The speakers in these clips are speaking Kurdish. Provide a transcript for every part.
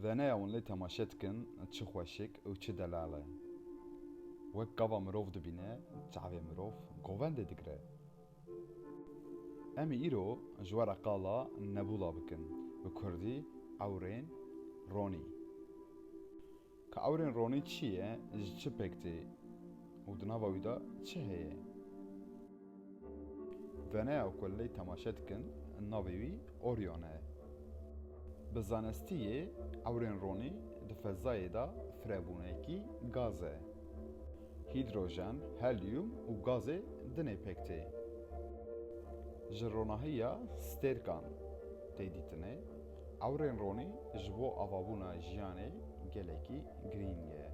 Veneya wan lê temaşe dikin çi xweşik û çi delal e. Wek gava mirov dibîne, çavê mirov govendê digire. Em ê îro ji we re qala Nebûla bikin, bi kurdî Ewrên Ronî. Ka ewrên ronî çi ye, ji çi pêk tê û di nava wî de çi heye? Veneya ku lê temaşe dikin navê wî Orion e. Bi zanistî yê ewrên ronî di fezayê de firebûnekî gaz e. Hîdrojen, helyum û gazê din ê pêk tê. Ji ronahiya stêrkan tê dîtinê. Ewrên ronî ji bo avabûna jiyanê gelekî girîng e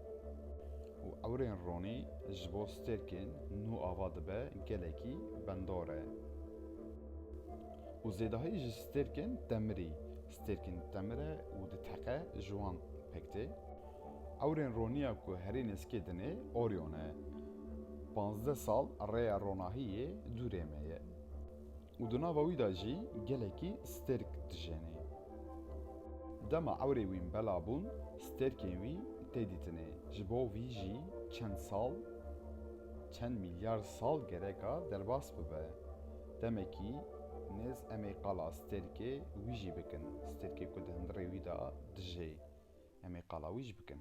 û ewrên ronî ji bo stêrkên nû ava dibe gelekî bendor e û zêdahî ji stêrkên demirî, stêrkên demir e û di teqe ji wan pêk tê. Ewrên roniya ku herî nêzkê din ê Orion e. Pazdeh sal rêya ronahiyê dûrê me ye. Û di nava wî de jî gelekî stêrk dijênê. Dema ewrê wî bela bûn, stêrkên wî tê dîtinê. Ji bo vî jî çend sal, çend mîlyar sal gereka derbas bibe. Demekî nêz em ê qala stêrkê wî jî bikin, stêrkê ku di hundirê wî de dijê, em ê qala wî jî bikin.